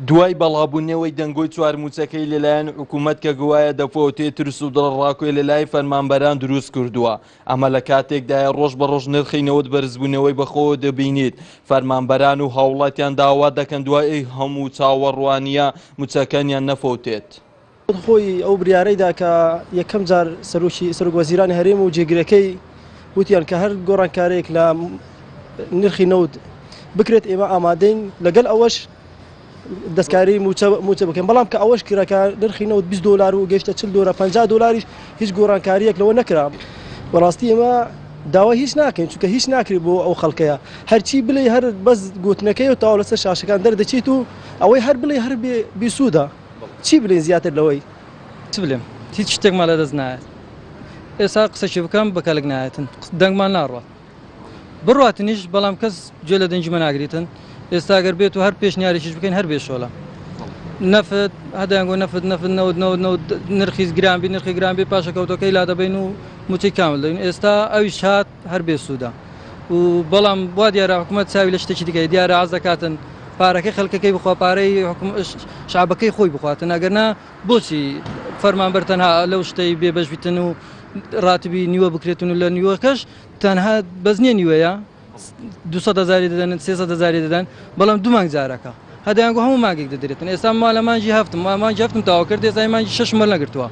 دوای بەڵابوونەوەی دەنگۆی چوار مووچەکەی لەلایەن حکوومەت کە گوایە دەفۆتێ ترس و دڵەڕاکۆی لەلای فەرمانبەران دروست کردووە ئەمە لە کاتێکدایە ڕۆژ بە ڕۆژ نرخی نەوت بەرزبوونەوەی بەخۆوە دەبینیت فەرمانبەران و هاوڵاتیان داوا دەکەن دوای ئەو هەموو چاوەڕوانییە مووچەکانیان نەفۆتێت. خود خۆی ئەو بریارەی دا کە یەکەم جار سەرۆکی سەرۆک وەزیرانی هەرێم و جێگرەکەی وتیان کە هەر گۆڕانکارێک لە نرخی نەوت بکرێت ئێمە ئامادەین لەگەل ئەوەش دەستکاری موچە موچە بکەین بەڵام کە ئەوەش کرەکە نرخی نەوت 20 دلار و گەشتە 40 دلار 50 دلاریش هیچ گۆڕانکاریەک لەوە نەکرا بەڕاستی ئێمە داوای هیچ ناکەین چونکە هیچ ناکرێت بۆ ئەو خەڵکەیە هەرچی بڵێ هەر بەس گوتنەکەی و تاو لەسەر شاشەکان دەردەچیت و ئەوەی هەر بڵێ هەر بێ بیسوودە چی بلێین زیاتر لەوەی. چ بلێم هیچ شتێکمان لە دەست نایەت ئێستا قسەکی بکەم بە کەلک نایەتن دەنگمان ناڕوات بڕاتنیش بەڵام کەس جێ لە دەنگی مەناگریتن ئێستا گەر بێت و هەر پێش نیارێکیش بکەین هەر بێ شۆلە نەفت هەدەنگۆ نەفت نەفت نەوت نەوت نەوت نرخیز گرانبی نرخی گرانبی پاشەکەوتەکەی لا دەبین و موچەی کامل دەین ئێستا ئەویش هات هەر بێ سوودە و بەڵام وا دیارە حکومەت چاوی لە شتێکی دیکەی دیارە عاز دەکاتن پارەکەی خەلکەکەی بخوا پارەی شعبەکەی خۆی بخواتن ئەگەرنا بۆچی فەرمانبەر تەنها لەو شتەی بێبەش بیتن و راتبی نیوە بکرێتن و لە نیوەکەش تەنها بەزنیە نیوەیە دوهزاری دەدەن سێزاری دەدەن بەڵام دومانگ جارەکە هە دەیان گۆ هەموو مانگێک دەدرێتن ئێستا ما لە مانگی هەفت ما مانگی هەفتم تەواو کرد ئێستا مانگی شەشم وەرنەگرتووە.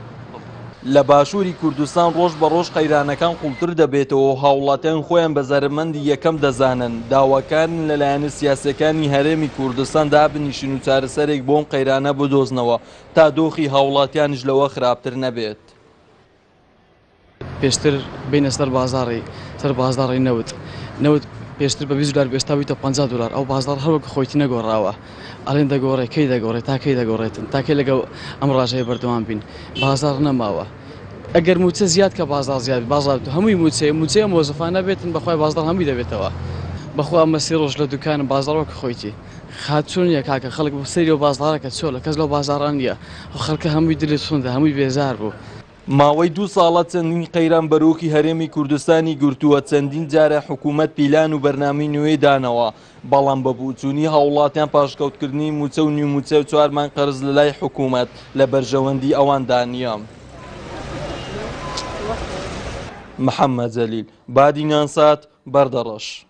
لە باشووری کوردستان ڕۆژ بە ڕۆژ قەیرانەکان قووڵتر دەبێتەوە و هاوڵاتیان خۆیان بە زەرەرمەندی یەکەم دەزانن، داواکارن لە لایەنە سیاسییەکانی هەرێمی کوردستان دابنیشن و چارەسەرێک بۆ ئەم قەیرانە بدۆزنەوە تا دۆخی هاوڵاتیانیش لەوە خراپتر نەبێت. پێشتر بینە سەر بازاری سەر بازاری نەوت نەوت پێشتر بە 20 دلار بێستا بیتە 50 دلار ئەو بازار هەروەک خۆیتی نەگۆڕاوە ئەلێن دەگۆڕێ کەی دەگۆڕێت تاکەی دەگۆڕێتن تاکەی لەگەڵ ئەم ڕژەیە بەردەوام بین بازار نەماوە ئەگەر موچە زیاد کە بازار زیاد بازار هەمووی موچەیە موچەیە مۆزفانە بێتن بەخوای بازار هەمووی دەبێتەوە بەخوا ئەمە سێ ڕۆژ لە دوکانم بازارۆکە خۆیتی خاتون یە کاکە خەڵک بۆ سەیری و بازارەکە چۆلە کەس لەو بازاران نیە خەڵکە هەمووی دلی سوندە هەمووی بێزار بوو ماوەی دوو ساڵە چەندین قەیران بەرۆکی هەرێمی کوردستانی گرتووە چەندین جارە حکوومەت پیلان و بەرنامی نوێی دانەوە بەڵام بە بوچوونی هاوڵاتیان پاشکەوتکردنی موچە و نیوموچە و چوارمان قەرز لە لای حکوومەت لە بەرژەوەندی ئەوان دانیە. محەممەد جەلیل، بادینان سات، بەردەڕەش.